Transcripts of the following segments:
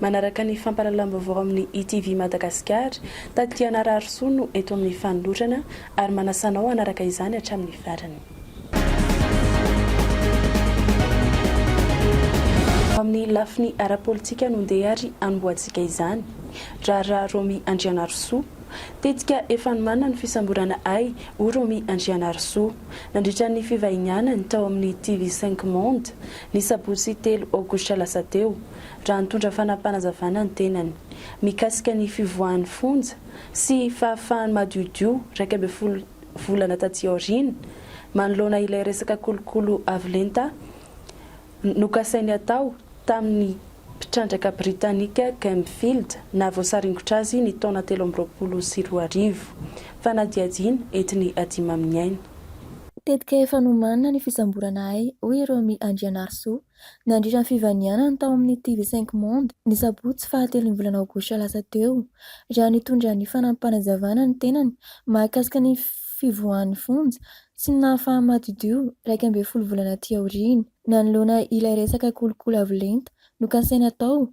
Manaraka ny fampahalalam-baovao amin'ny ITV Madagasikara, Taty Hanararisoa no eto amin'ny fanolorana ary manasa anao hanaraka izany hatramin'ny farany. Ho amin'ny lafiny ara-politika no ndeha ary hanombohantsika izany. Raharaha Romy Andrianarisoa. Tetika efa nomanina ny fisamborana ahy, hoy Romy Andrianarisoa, nandritra ny fivahinianany tao amin'ny TV Cinq Monde, ny sabotsy telo aogositra lasa teo. raha nitondra fanapanazavana ny tenany mikasika ny fivoahan'ny fonja sy fahafahany madiodio iraika ambin'ny folo volana taty aoriana manoloana ilay resaka kolokolo avo lenta nokasainy hatao tamin'ny mpitrandraka britanika Gemfield naha voasaringotra azy ny taona telo amby roapolo sy roa arivo. Fanadihadiana entiny adimaminiaina. Tetika efa nomanina ny fisamborana ahy, hoy i Romy Andrianarisoa, Nandritra ny fivanianany tao amin'ny TV Cinq Monde, ny sabotsy fahatelon'ny volana aogositra lasa teo, raha nitondra ny fanampim-panazavana ny tenany mahakasika ny fivoahan'ny fonja sy ny nahafaha-madiodio iraika ambin'ny folo volana aty aoriana. Nanoloana ilay resaka kolikoly avo lenta nokasaina atao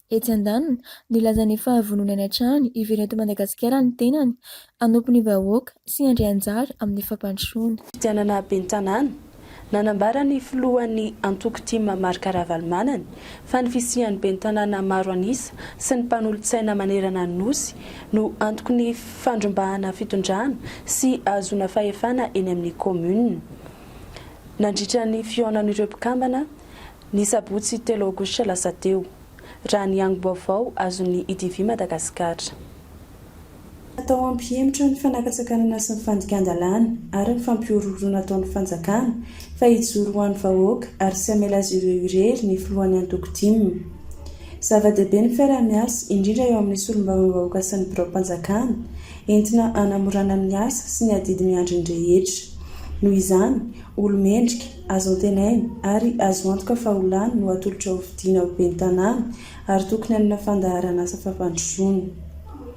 Etsy andaniny, nilaza ny fahavononany hatrany hiverina eto Madagasikara ny tenany, hanompo ny vahoaka sy handray anjara amin'ny fampandrosoana. Fifidianana ben'ny Tanàna. Nanambara ny filohan'ny antoko tim Marc Ravalomanana fa ny fisian'ny ben'ny Tanàna maro an'isa sy ny mpanolotsaina manerana ny Nosy no antoky ny fandrombahana fitondrana sy ahazoana fahefana eny amin'ny kaominina nandritra ny fihaonan'ireo mpikambana Ny sabotsy telo aogositra lasa teo, raha ny angom-baovao azon'ny IDV Madagasikara. Natao hampihemotra ny fanakantsakanana sy ny fandikan-dalàna ary ny fampihorohoroana ataon'ny fanjakana fa hijoro ho an'ny vahoaka ary tsy hamela azy ireo irery ny filohan'ny antoko tim. Zava-dehibe ny fiaraha-miasa, indrindra eo amin'ny solombavambahoaka sy ny biraom-panjakana, entina hanamorana ny asa sy ny adidy miandry ny rehetra. Noho izany, olo-mendrika. Azo antenaina ary azo antoka fa ho lany no atolotra ho fidiana ho ben'ny tanàna ary tokony hanana fandaharan'asa fampandrosoana.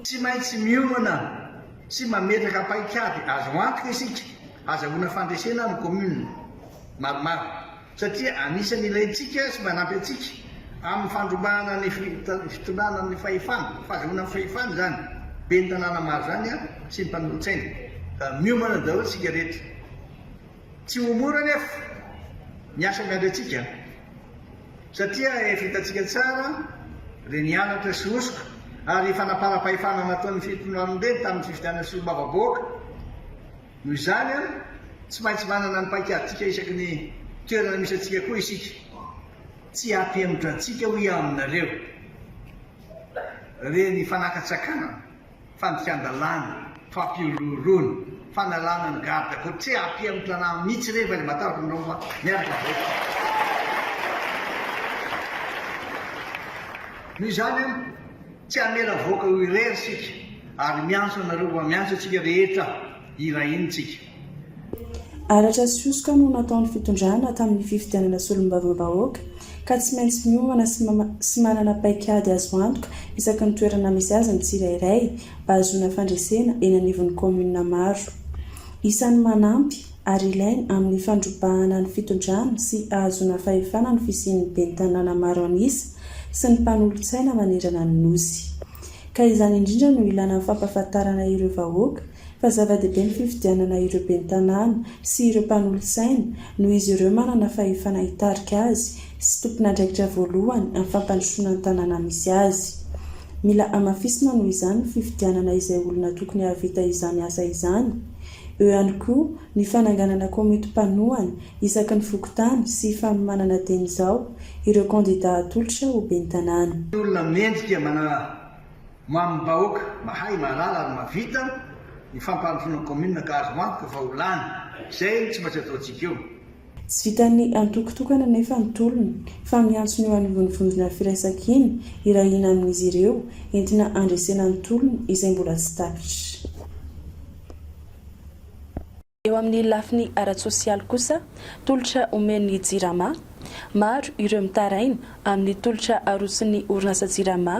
Tsy maintsy miomana sy mametraka paikady azo antoka isika hazahoana fandresena ny commune maromaro satria anisany ilaintsika sy manampy antsika amin'ny fandrobahana ny fitondrana ny fahefana, fahazahoana ny fahefana izany ben'ny tanàna maro izany sy ny mpanolotsaina. Miomana daholo isika rehetra. Tsy ho mora anefa ny asa miandry antsika satria efa hitantsika tsara ireny anatra sy hosoka ary fanamparam-pahefana nataon'ny Fitondranobe tamin'ny fifidianana solombavambahoaka. Noho izany, tsy maintsy manana ny paikadintsika isaky ny toerana misy antsika koa isika. Tsy hampihemotra antsika hoy aho aminareo ireny fanaka-tsakanana. fandikan-dalàna, fampihorohoroana, fanalana ny garde côtier aty amin'ny tanà mihitsy rehefa ilay matahotra anareo fa miaraka avy aiza. Noho izany an, tsy hamela havoaka eo irery isika ary miantso anareo fa miantso antsika rehetra hirahina isika. Halatra sy hosoka no nataon'ny fitondrana tamin'ny fifidianana solombavambahoaka ka tsy maintsy miomana sy manana paikady azo antoka isaky ny toerana misy azy ny tsirairay mba hahazoana fandresena eny anivon'ny kaominina maro isany manampy ary ilaina amin'ny fandrobahana ny fitondrana sy ahazoana fahefana ny fisian'ny ben'ny tanàna maro an'isa sy ny mpanolotsaina manerana ny Nosy ka izany indrindra no ilana ny fampahafantarana ireo vahoaka fa zava-dehibe ny fifidianana ireo ben'ny tanàna sy ireo mpanolotsaina noho izy ireo manana fahefana hitarika azy sy tompon'andraikitra voalohany amin'ny fampandrosoana ny tanàna misy azy. Mila hamafisina noho izany ny fifidianana izay olona tokony hahavita izany asa izany. Eo ihany koa ny fananganana komity mpanohana isaky ny fokontany sy fanomanana dieny izao ireo kandidà hatolotra ho ben'ny tanàna. Ny olona mendrika manala Ho amin'ny vahoaka mahay, mahalala ary mahavita, ny fampandrosoana ny kaominina ka azo antoka fa ho lany. Izay no tsy maintsy ataontsika eo. Tsy vitan'ny antoko tokana anefa ny tolona, fa miantso ny eo anivon'ny vondrona firaisankina hirahina amin'izy ireo, entina handresena ny tolona izay mbola tsy tapitra. Eo amin'ny lafiny ara-tsosialy kosa, tolotra omen'ny Jirama, maro ireo mitaraina amin'ny tolotra aroson'ny orinasa Jirama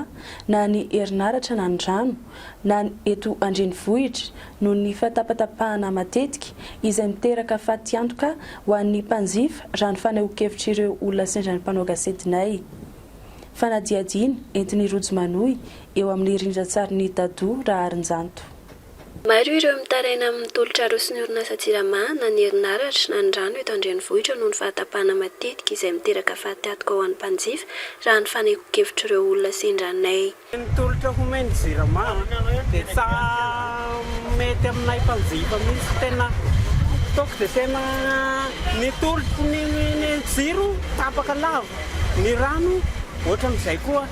na ny herinaratra na ny rano na ny eto an-drenivohitra noho ny fahatapatapahana matetika izay miteraka fatiantoka ho an'ny mpanjifa raha ny fanehoankevitr'ireo olona sendran'ny mpanao gasetinay Fanadihadiana entin'ny Rojo Manohy eo amin'ny rindran-tsarin'i Dadou Raharinjanto. Maro ireo mitaraina amin'ny tolotra aroson'ny orinasa Jirama na ny herinaratra na ny rano eto an-drenivohitra noho ny fahatapahana matetika izay miteraka fahatihatoka ho an'ny mpanjifa raha ny fanehoan-kevitr'ireo olona sendranay. Ny tolotra homen'ny Jirama dia tsy mety aminay mpanjifa mihitsy, tena ataoko dia tena ny tolotry ny jiro tapaka lava. ny rano ohatran'izay koa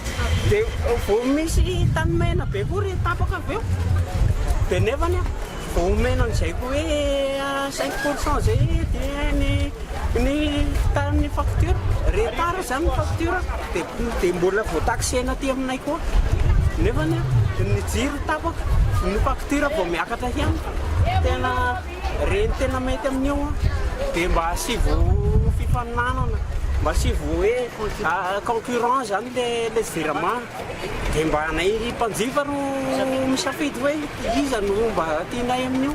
dia vao misy tany maina be koa ry tapaka avy eo dia nefany a vao omena an'izay koa hoe cinq pour cent zay dia ny ny tamin'ny facture retard zany ny facture dia dia mbola vao taxena aty aminay koa nefany a ny jiro tapaka ny facture vao miakatra ihany tena Re ny tena mety amin'io dia mba asivo fifaninanana, mba asivo hoe concurrence zany le le virement dia mba anay mpanjifa no misafidy hoe iza no mba tianay amin'io.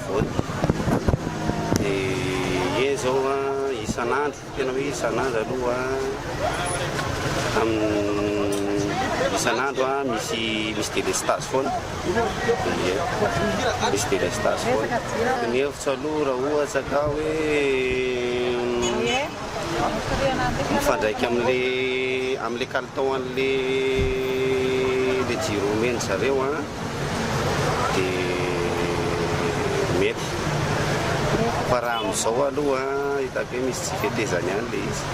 Vote de ie zao a isan'andro tena hoe isan'andro aloha am isan'andro a misy misy délestage foana ie misy délestage foana ny hevitro aloha raha ohatra ka hoe mifandraika amle amle kalitao anle le jiro omen-dry zareo a. dia mety. Fa raha amin'izao aloha hitako hoe misy tsy fetezany ihany ilay izy.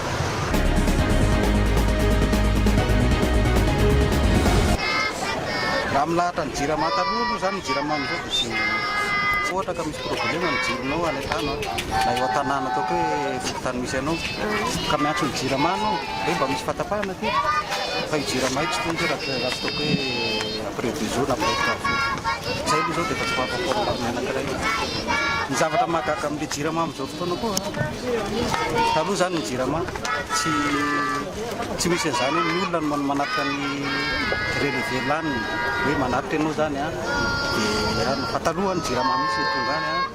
Raha milahatra ny jirama taloha aloha izany ny jirama amin'izao dia tsy tsy ohatra ka misy problema ny jironao any an-tano na eo an-tanàna ataoko hoe fokontany misy anao ka miantso ny jirama anao hoe mba misy fahatapahana aty fa io jirama io tsy tokony hoe raha tsy ataoko hoe Treviso na Precaso. Izay aloha izao dia efa tsy vaovao akory ny armée anankiray io. Ny zavatra mahagaga amin'ilay Jirama amin'izao fotoana koa, taloha izany ny Jirama tsy tsy misy an'izany hoe ny olona no manatitra ny relevé laniny, hoe manatitra ianao izany an, dia fa taloha ny Jirama mihitsy no tonga any an.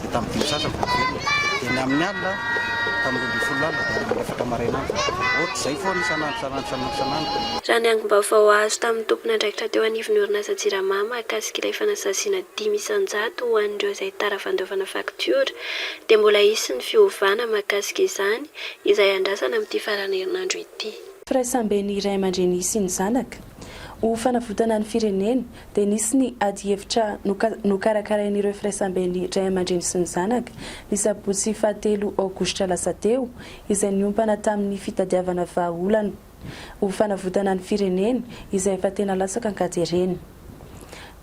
dia tamin'ny dimy sy sasany vao niverina, dia ny amin'ny alina tamin'ny roa ambin'ny folo lalina dia any amin'ny efatra maraina any, ohatr'izay foana isan'andro isan'andro isan'andro isan'andro. Raha ny angom-baovao azo tamin'ny tompon'andraikitra teo anivon'ny orinasa Jirama mahakasika ilay fanasaziana dimy isan-jato ho an'ireo izay tara fandovana faktiora dia mbola hisy ny fiovana mahakasika izany izay andrasana amin'ity faran'ny herinandro ity. Firaisamben'ny ray aman-dreny sy ny zanaka, ho fanavotana ny firenena dia nisy ny adihevitra nokarakarain'ireo firaisamben'ny ray aman-dreny sy ny zanaka, ny sabotsy fahatelo aogositra lasa teo, izay niompana tamin'ny fitadiavana vahaolana ho fanavotana ny firenena izay efa tena latsaka an-katerena.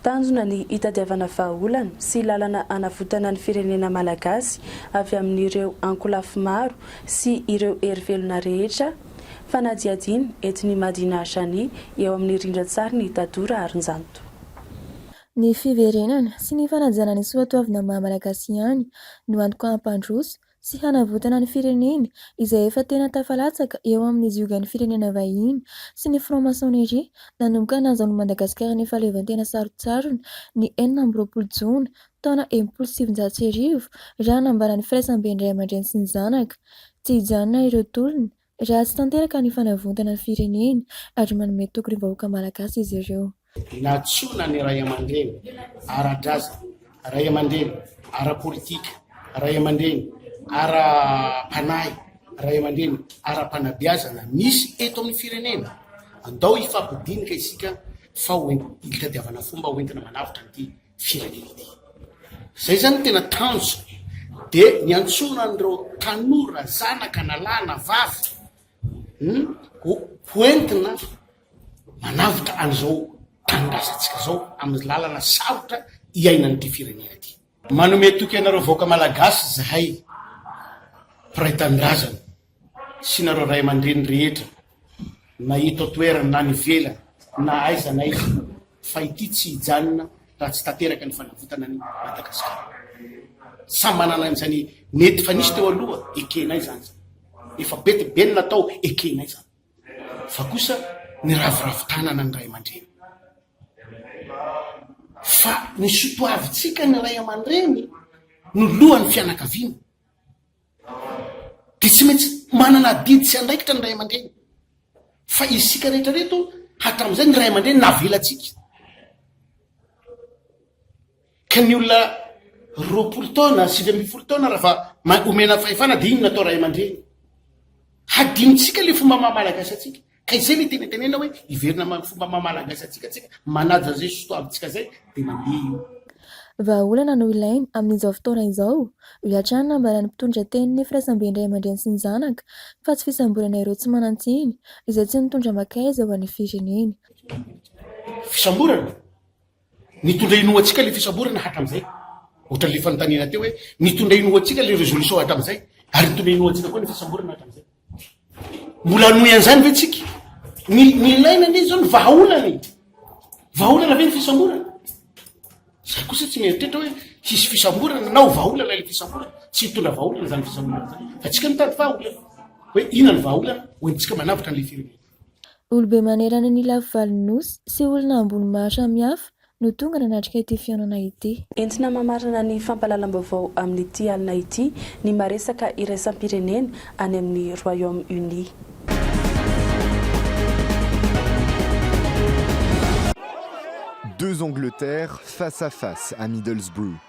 Tanjona ny hitadiavana vahaolana sy lalana hanavotana ny firenena malagasy avy amin'ireo ankolafy maro sy ireo hery velona rehetra Fanadihadiana, eto ny Madinah Jani, eo amin'ny rindran-tsarin'i Tado Raharinjanto. Ny fiverenana sy ny fanajana ny soatoavina maha Malagasy ihany no antoka hampandroso sy hanavotana ny firenena izay efa tena tafalatsaka eo amin'ny ziogan'ny firenena vahiny sy ny franc-maçonnerie nanomboka nahazahoan'i Madagasikara ny fahaleovantena sarontsarony ny enina amby roapolo jona taona enimpolo sy sivinjato sy arivo, raha hanambara ny firaisamben'ny ray aman-dreny sy ny zanaka. Tsy hijanona ireo tolona, raha tsy tanteraka ny fanavontana ny firenena ary manome toky ny vahoaka malagasy izy ireo. Nantsoina ny ray aman-dreny ara-drazana, ray aman-dreny ara-politika, ray aman-dreny ara-panahy, ray aman-dreny ara-panabeazana misy eto amin'ny firenena. Andao hifampidinika isika fa ho entina hitadiavana fomba ho entina manavotra an'ity firenena ity. Izay izany no tena tanjony. Dia niantsoana an'ireo tanora, zanaka na lahy na vavy, hmm, ho hoentina manavotra an'izao tanindrazantsika izao amin'ny lalana sarotra iainan'ity firenena ity. Manome toky anareo vahoaka malagasy izahay mpiray tanindrazana. sy nareo ray aman-dreny rehetra na eto an-toerana na any ivelany na aiza na aiza fa ity tsy hijanona raha tsy tanteraka ny fanavotana ny Madagasikara. Samy manana an'izany nety fa nisy teo aloha ekenay izany izany. Efa be dia be ny natao ekenay izany. Fa kosa niraviravy tanana ny ray aman-dreny. Fa ny sotoavintsika ny ray aman-dreny no lohan'ny fianakaviana. dia tsy maintsy manana adidy sy andraikitra ny ray aman-dreny fa isika rehetra reto hatramin'izay ny ray aman-dreny navelantsika ka ny olona roapolo taona sivy amby folo taona raha fa omena fahefana dia iny natao ray aman-dreny hadinontsika le fomba maha malagasy atsika Ka izay le tena tenena hoe hiverina amany fomba maha malagasy antsika tsika, manaja an'izay zo sotoavintsika izay de mandeha io. Vahaolana no ilaina amin'izao fotoana izao, hoy hatrany ny nambaran'ny mpitondra tenin'ny firaisambe ny ray aman-dreny sy ny zanaka, fa tsy fisamborana ireo tsy manan-tsiny, izay tsy nitondra makaiza ho an'ny firenena. Fisamborana? Nitondra ino ho antsika ilay fisamborana hatramin'izay? Ohatran'ilay fanontaniana teo hoe, Nitondra ino ho antsika ilay résolution hatramin'izay? Ary nitondra ino ho antsika koa ny fisamborana hatramin'izay? Mbola hanohy an'izany ve tsika? Ny, ny ilaina anie izao ny vahaolana e! Vahaolana ve ny fisamborana? Za kosa tsy mieritreritra hoe hisy fisamborana na ho vahaolana ilay fisamborana. Tsy hitondra vahaolana izany fisamborana izany. Fa tsika mitady vahaolana. Hoe inona ny vahaolana? Ho entintsika manavotra an'ilay firenena. Olobe manerana ny lafivalon'ny Nosy sy olona ambony maro samihafa no tonga nanatrika ity fihaonana ity. Entina mamarana ny fampahalalam-baovao amin'ity alina ity ny maresaka iraisam-pirenena any amin'ny Royaume Uni. Deux Angleterres face à face à Middlesbrough.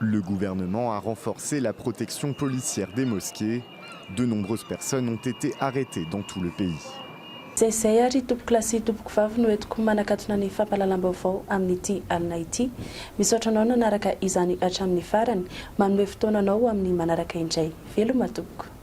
Le gouvernement a renforcé la protection policière des mosquées, de nombreuses personnes ont été arretées dans tout le pays. Izay izay ary tompokolahy sy tompokovavy no entiko manakatona ny fampahalalam-baovao amin'ity alina ity. Misaotra anao nanaraka izany hatramin'ny farany. Manome fotoana anao ho amin'ny manaraka indray. Veloma tompoko.